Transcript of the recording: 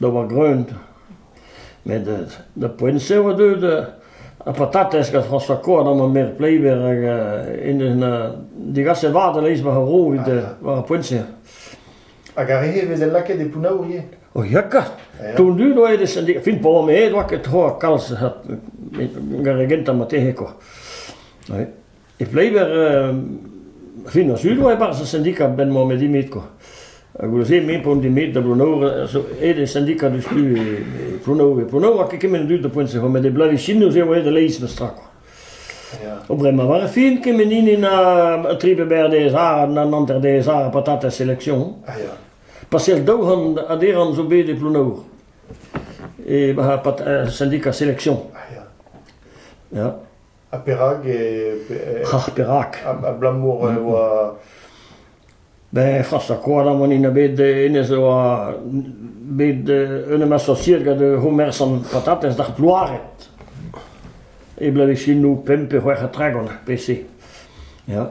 da oa greunv, met da poent-se e oa deuet ar patatez gant Frañsoa Koad ha ma merc'h Pleiber hag en deus degaset vat a-leizh war ar vro evit war ar poent-se. Hag ar re-se e veze lakaet e Pounaour ivez O ya kat! Tondu doa e sendika. Fin pa oa aet oa ket tro ha kalz gant re gentañ matezhe kwa. Oui. E Pleiber, ar fin ar Sul oa e-barzh ar sindika a-benn met dimit kwa. Ha goude-se, me pont dimit da Plouneour, zo aet e sindika diouzhtu e e Plouneour, e Plouneour hag kement dud da poent-se. Met e Blavisinoù eo aet e-leizh meus tra kwa. O bremañ war ar fin, kement hini na tri pe berr dez ar, na hanter dez ar, patatez selection. Ah ya. Pasel daou c'hant a deran zo bet e Plouneour. E ba- pat- euh, syndicat sélection. Ah ya. Ya. Ha perak e... Ah, perak? Abalamour e oa... Ben, Frañs Koadam an int bet, hennezh a oa bet un em asosiet gant Homer san patatez d'ar Plouaret. E blevesinoù pemp pe c'hwec'h ha tregont, pe se. Ja.